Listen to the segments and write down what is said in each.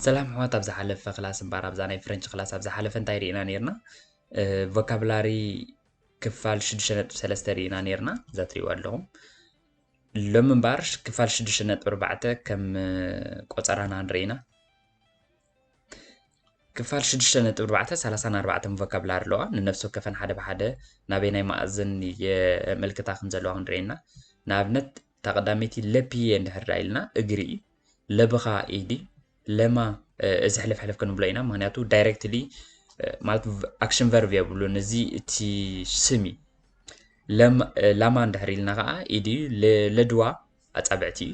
ሰላም ሕዋት ኣብ ዝሓለፈ ክላስ እምበኣር ኣብዛ ናይ ፍረንች ክላስ ኣብ ዝሓለፈ እንታይ ርኢና ነርና ቮካብላሪ ክፋል 6.3 ርኢና ነርና እዛ ትሪእዋ ኣለኹም ሎሚ እምበኣር ክፋል 6.4 ከም ቆፀራና ንርኢና ክፋል ሽዱሽተ ነጥቢ ኣርባዕተ ሰላሳን ኣርባዕተን ቮካብላሪ ኣለዋ ንነፍሲ ወከፈን ሓደ ብሓደ ናበየናይ መኣዝን የመልክታ ከም ዘለዋ ክንርኢ ኢና ንኣብነት እታ ቀዳመይቲ ለፕየ እንድሕር ዳ ኢልና እግሪ እዩ ለብኻ ኢድ እዩ ለማ እዚ ሕልፍ ሕልፍ ክንብሎ ኢና ምክንያቱ ዳይሬክትሊ ማለት ኣክሽን ቨርብ የብሉን እዚ እቲ ስም እዩ ላማ እንድሕር ኢልና ከዓ ኢድ እዩ ለድዋ ኣፃብዕቲ እዩ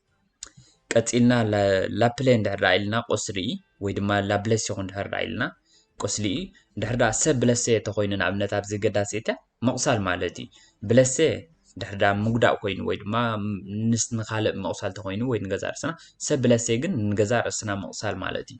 ቀጺልና ላፕለ እንድሕር ኢልና ቁስሊ ወይ ድማ ላብለስ ይኹን እንድሕር ኢልና ቁስሊ እዩ። እንድሕር ደኣ ሰብ ብለሰ ተኾይኑ ንኣብነት ኣብዚ ገዳሲ እተ ምቑሳል ማለት እዩ። ብለሰ እንድሕር ደኣ ምጉዳእ ኮይኑ ወይ ድማ ምስ ንኻልእ ምቑሳል ተኾይኑ ወይ ንገዛእ ርእስና ሰብ ብለሰ ግን ንገዛእ ርእስና ምቑሳል ማለት እዩ።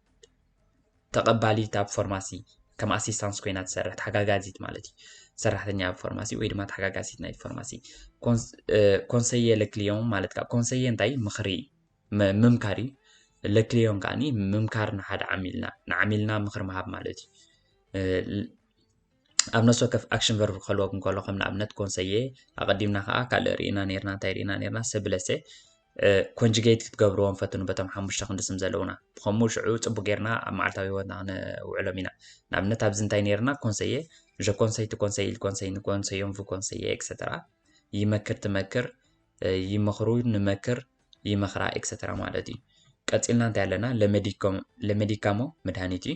ተቐባሊት ኣብ ፎርማሲ ከም ኣሲስታንስ ኮይና ትሰርሕ ተሓጋጋዚት ማለት እዩ ሰራሕተኛ ኣብ ፎርማሲ ወይ ድማ ተሓጋጋዚት ናይ ፎርማሲ ኮንሰየ ለክልዮን ማለት ከዓ ኮንሰየ እንታይ ምኽሪ ምምካር እዩ ለክልዮን ከዓ ምምካር ንሓደ ዓሚልና ንዓሚልና ምኽሪ ምሃብ ማለት እዩ ኣብ ነፍሲ ወከፍ ኣክሽን ቨርብ ክህልወኩም እንከሎ ከም ንኣብነት ኮንሰየ ኣቐዲምና ከዓ ካልእ ርኢና ነርና እንታይ ርኢና ነርና ሰብለሰ ኮንጅጌት ክትገብርዎም ፈትኑ በቶም ሓሙሽተ ክንዲ ስም ዘለውና ብከምኡ ሽዑ ፅቡቅ ጌርና ኣብ መዓልታዊ ህይወትና ክንውዕሎም ኢና ንኣብነት ኣብዚ እንታይ ነርና ኮንሰየ ዠ ኮንሰይ ቲ ኮንሰይ ኢል ኮንሰይ ንኮንሰዮም ቭ ኮንሰየ ኤክሰተራ ይመክር ትመክር ይመክሩ ንመክር ይመክራ ኤክሰተራ ማለት እዩ ቀፂልና እንታይ ኣለና ለመዲካሞ መድሃኒት እዩ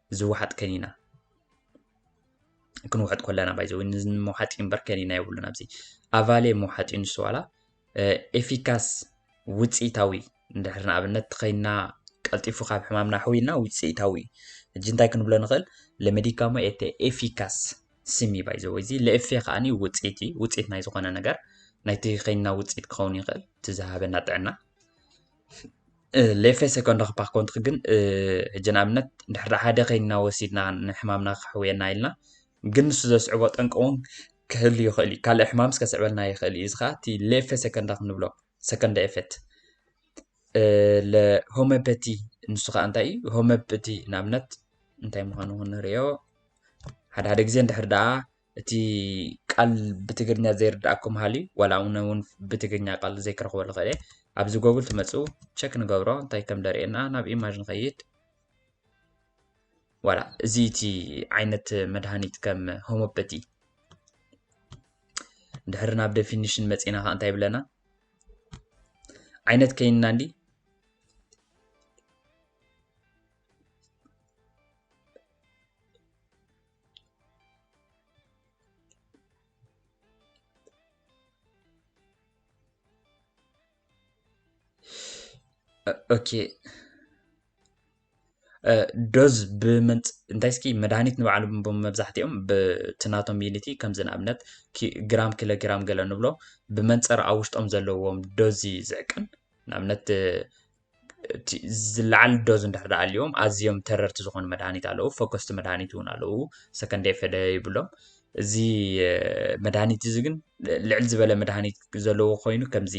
ዝወሓጥ ከኒና ክንውሕጥ ኮለና ባይዘ ንመውሓጢ እምበር ከኒና የብሉን ኣብዚ ኣቫሌ መውሓጢ ንሱ ዋላ ኤፊካስ ውፅኢታዊ እንድሕር ንኣብነት ተኸይና ቀልጢፉ ካብ ሕማምና ሕውይና ውፅኢታዊ ሕጂ እንታይ ክንብሎ ንኽእል ለመዲካሞ ኤተ ኤፊካስ ስም እዩ ባይዘ ወይዚ ለኤፌ ከዓኒ ውፅኢት እዩ ውፅኢት ናይ ዝኾነ ነገር ናይቲ ከይና ውፅኢት ክኸውን ይኽእል እቲ ዝሃበና ጥዕና ሌፌ ሰኮንዳክ ፓክ ኮንትክ ግን ሕጂ ንኣብነት እንድሕር ሓደ ከይንና ወሲድና ንሕማምና ከሕውየና ኢልና ግን ንሱ ዘስዕቦ ጠንቂ እውን ክህሉ ይኽእል እዩ ካልእ ሕማምስ ከስዕበልና ይኽእል እዩ እዚ ከዓ እቲ ሌፌ ሰኮንዳክ ንብሎ ሰኮንዳ ኤፌት ሆሚዮፓቲ ንሱ ከዓ እንታይ እዩ ሆሚዮፓቲ ንኣብነት እንታይ ምዃኑ ክንርእዮ ሓደ ሓደ ግዜ እንድሕር ደኣ እቲ ቃል ብትግርኛ ዘይርድኣኩም ሃልዩ ዋላ ኣነ እውን ብትግርኛ ቃል ዘይክረኽበሉ ኽእል እየ ኣብዚ ጎግል ትመፁ ቸክ ንገብሮ እንታይ ከም ደርእየና ናብ ኢማጅ ንኸይድ ዋላ እዚ እቲ ዓይነት መድሃኒት ከም ሆሞፐቲ ድሕሪ ናብ ደፊኒሽን መፂና ከዓ እንታይ ይብለና ዓይነት ከይንና እንዲ ኦኬ ዶዝ ብምንፅ እንታይ እስኪ መድሃኒት ንባዕሉ መብዛሕትኦም ብቲ ናቶም ዩኒቲ ከምዚ ንኣብነት ግራም ኪሎ ግራም ገለ ንብሎ ብመንፅር ኣብ ውሽጦም ዘለዎም ዶዝ እዩ ዝዕቀን ንኣብነት ዝለዓል ዶዝ እንድሕር ደኣ ኣልዩዎም ኣዝዮም ተረርቲ ዝኾኑ መድሃኒት ኣለዉ ፈኮስቲ መድሃኒት እውን ኣለዉ ሰከንደይ ፈደ ይብሎም እዚ መድሃኒት እዚ ግን ልዕል ዝበለ መድሃኒት ዘለዎ ኮይኑ ከምዚ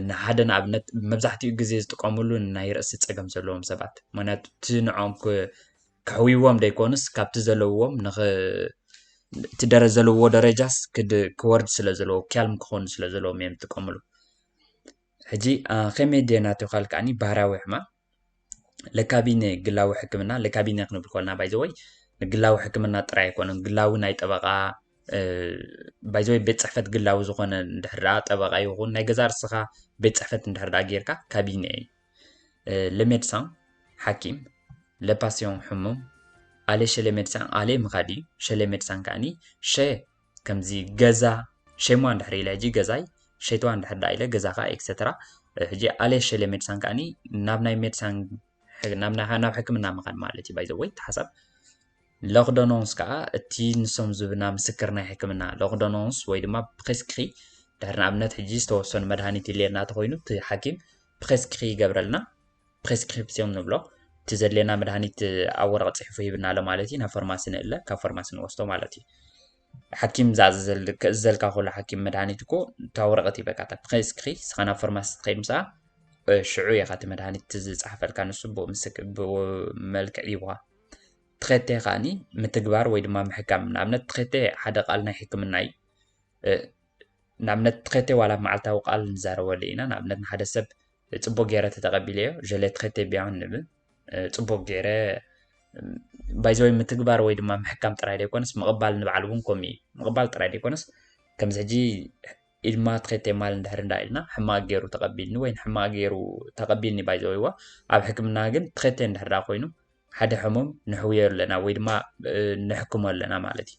ንሓደ ንኣብነት መብዛሕትኡ ግዜ ዝጥቀምሉ ናይ ርእሲ ፀገም ዘለዎም ሰባት ምክንያቱ እቲ ንዖም ከሕውዎም ደይኮኑስ ካብቲ ዘለዎም ንኽ እቲ ደረ ዘለዎ ደረጃስ ክወርድ ስለ ዘለዎ ክያልም ክኾኑ ስለ ዘለዎም እዮም ዝጥቀምሉ ሕጂ ከመይ ድየ ናቱ ካል ከዓኒ ባህርያዊ ሕማም ለካቢነ ግላዊ ሕክምና ለካቢነ ክንብል ኮልና ባይዘወይ ንግላዊ ሕክምና ጥራይ ኣይኮነን ግላዊ ናይ ጠበቃ ባይዘወይ ቤት ፅሕፈት ግላዊ ዝኾነ እንድሕር ደኣ ጠበቃ ይኹን ናይ ገዛ ርስኻ ቤት ፅሕፈት እንድሕር ደኣ ጌርካ ካቢነ እዩ ለሜድሳን ሓኪም ለፓሲዮን ሕሙም ኣሌ ሸሌ ሜድሳን ኣሌ ምኻድ እዩ ሸሌ ሜድሳን ከዓኒ ሸ ከምዚ ገዛ ሸይማ እንድሕር ኢለ ሕጂ ገዛይ ሸይትዋ እንድሕር ደኣ ኢለ ገዛኻ ኤክሰትራ ሕጂ ኣልየ ሸልየ ሜድሳን ከዓኒ ናብ ናይ ሜድሳን ናብ ሕክምና ምኻድ ማለት እዩ ባይ ዘ ወይ እቲ ሓሳብ ሎክዶኖንስ ከዓ እቲ ንሶም ዝብና ምስክር ናይ ሕክምና ሎክዶኖንስ ወይ ድማ ፕሬስክሪ ድሕሪ ንኣብነት ሕጂ ዝተወሰኑ መድሃኒት ይልየና ተኮይኑ እቲ ሓኪም ፕሬስክሪ ይገብረልና ፕሬስክሪፕስዮም ንብሎ እቲ ዘድልየና መድሃኒት ኣብ ወረቐ ጽሒፉ ሂብና ኣሎ ማለት እዩ ናብ ፈርማሲ ንእለ ካብ ፈርማሲ ንወስዶ ማለት እዩ ሓኪም ዝእዘልካ ከሎ ሓኪም መድሃኒት እኮ እታ ወረቐት ይበካ እታ ፕሬስክሪ ስኻ ናብ ፈርማሲ ትኸይድ ምስኣ ሽዑ ኢኻ እቲ መድሃኒት ዝፅሓፈልካ ንሱ ብመልክዕ ይብኻ ትኸቴ ከዓኒ ምትግባር ወይ ድማ ምሕካም ንኣብነት ትኸቴ ሓደ ቃል ናይ ሕክምና እዩ ንኣብነት ትኸቴ ዋላ መዓልታዊ ቃል ንዛረበሉ ኢና ንኣብነት ንሓደ ሰብ ጽቡቅ ገይረ ተተቀቢለዮ je l'ai traité bien ንብል ጽቡቅ ገይረ ባይዘወይ ምትግባር ወይ ድማ ምሕካም ጥራይ ዘይኮነስ ምቕባል ንበዓል እውን ከምኡ እዩ ምቕባል ጥራይ ዘይኮነስ ከምዚ ሕጂ ኢልማ ትኸቴ ማል እንድሕር እንዳ ኢልና ሕማቅ ገይሩ ተቐቢልኒ ወይ ሕማቅ ገይሩ ተቐቢልኒ ባይዘወይዋ ኣብ ሕክምና ግን ትኸቴ እንድሕር ዳ ኮይኑ ሓደ ሕሙም ንሕውዮ ኣለና ወይ ድማ ንሕክሞ ኣለና ማለት እዩ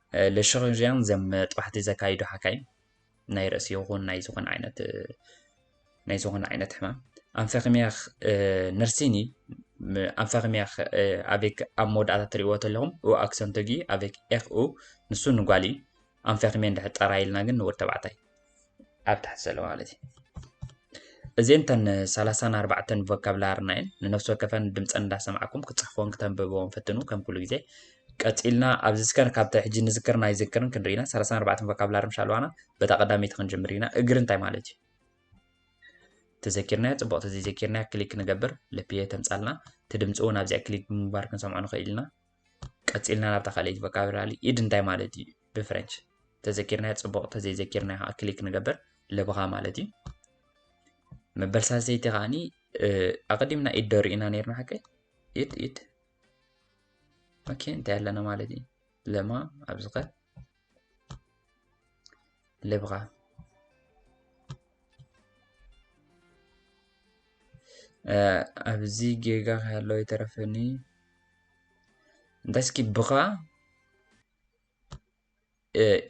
ለሽርዥያን ዘም ጥባሕቲ ዘካይዱ ሓካይም ናይ ርእሲ ይኹን ናይ ዝኾነ ዓይነት ናይ ዝኾነ ዓይነት ሕማም ኣንፈክምያኽ ነርሲኒ ኣንፈክምያኽ ኣቤክ ኣብ መወዳእታ ትሪእዎ ተለኹም ኡ ኣክሰንቶጊ ኣቤክ ኤክ ኡ ንሱ ንጓሊ ኣንፈክሜ እንድሕር ጠራ ኢልና ግን ንወድ ተባዕታይ ኣብ ታሕቲ ዘሎ ማለት እዩ እዚን ተን ሰላሳን ኣርባዕተን ቮካብላርና እየን ንነፍሲ ወከፈን ድምፀን እንዳሰማዕኩም ክፅሕፍዎን ክተንብብዎን ፈትኑ ከም ኩሉ ግዜ ቀፂልና ኣብዚ ስከን ካብቲ ሕጂ ንዝክርን ኣይዝክርን ክንርኢ ኢና ሰላሳን ኣርባዕተን ቮካብላር ምሽ ኣለዋና በታ ቀዳመይቲ ክንጅምር ኢና እግሪ እንታይ ማለት እዩ ተዘኪርናዮ ፅቡቅ ተዘይዘኪርናዮ ክሊክ ንገብር ልፕየ ተምፃልና እቲ ድምፂ እውን ኣብዚኣ ክሊክ ብምግባር ክንሰምዖ ንኽእል ኢና ቀጺልና ናብታ ካልኣይቲ ቮካብራሪ ኢድ እንታይ ማለት እዩ ብፍረንች ተዘኪርናዮ ጽቡቕ ተዘይዘኪርናዮ ከዓ ክሊክ ንገብር ልብኻ ማለት እዩ መበል ሳልሰይቲ ከዓኒ ኣቐዲምና ኢድ ዶ ርኢና ነርና ሓቀይ ኢድ ኢድ ኦኬ እንታይ ኣለና ማለት እዩ ለማ ኣብዚ ከ les bras. ኣብዚ ጌጋ ካለው የተረፈኒ እንታይ እስኪ ብኻ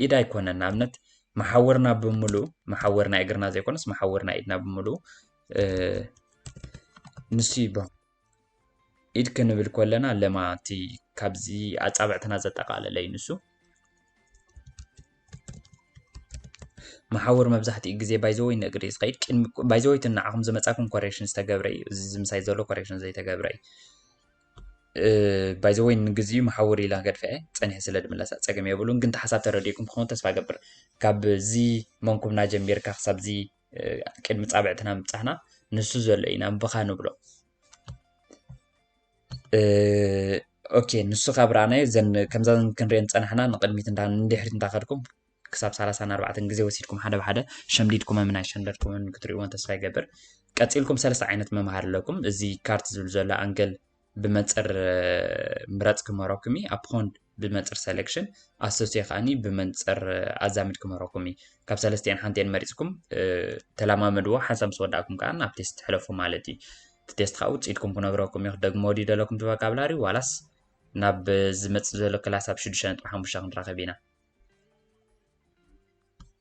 ኢድ ኣይኮነን ንኣብነት መሓወርና ብምሉ መሓወር ናይ እግርና ዘይኮነስ መሓወር ናይ ኢድና ብምሉ ንሱ ይበሃል ኢድ ክንብል ከለና ለማ እቲ ካብዚ ኣፃብዕትና ዘጠቓለለ እዩ ንሱ። መሓውር መብዛሕትኡ ግዜ ባይዘወይ ንእግሪ ዝኸይድ ቅድሚ ባይዘወይ እቲ ንዓኹም ዝመፃኩም ኮሬክሽን ዝተገብረ እዩ እዚ ዝምሳይ ዘሎ ኮሬክሽን ዘይተገብረ እዩ ባይዘወይ ንግዚኡ መሓውር ኢላ ገድፈ እየ ፀኒሐ ስለ ድምለሳ ፀገም የብሉን ግን ተሓሳብ ተረዲእኩም ክኸውን ተስፋ ገብር ካብዚ መንኩብና ጀሚርካ ክሳብዚ ቅድሚ ፃብዕትና ምብፃሕና ንሱ ዘሎ ኢና ብኻ ንብሎ ኦኬ ንሱ ካብ ረኣናዮ ዘን ከምዛ ክንሪኦ ዝፀናሕና ንቅድሚት እንዳ ንድሕሪት እንዳኸድኩም ክሳብ ሰላሳን ኣርባዕተን ግዜ ወሲድኩም ሓደ ብሓደ ሸምዲድኩመምን ኣይሸምደድኩምን ክትሪእዎን ተስፋ ይገብር ቀፂልኩም ሰለስተ ዓይነት መምሃር ኣለኩም እዚ ካርት ዝብል ዘሎ ኣንገል ብመንፅር ምረፅ ክምህረኩም እዩ ኣፕኮንድ ብመንፅር ሰሌክሽን ኣሶሴ ከዓኒ ብመንፅር ኣዛምድ ክምህረኩም እዩ ካብ ሰለስቲኤን ሓንቲኤን መሪፅኩም ተለማመድዎ ሓንሳብ ምስ ወዳእኩም ከዓ ናብ ቴስት ትሕለፉ ማለት እዩ እቲ ቴስት ከዓ ውፅኢትኩም ክነግረኩም እዩ ደግሞ ድዩ ዘለኩም ትበካብላሪ ዋላስ ናብ ዝመፅእ ዘሎ ክላስ ኣብ ሽዱሽተ ነጥቢ ሓሙሽተ ክንራኸብ ኢና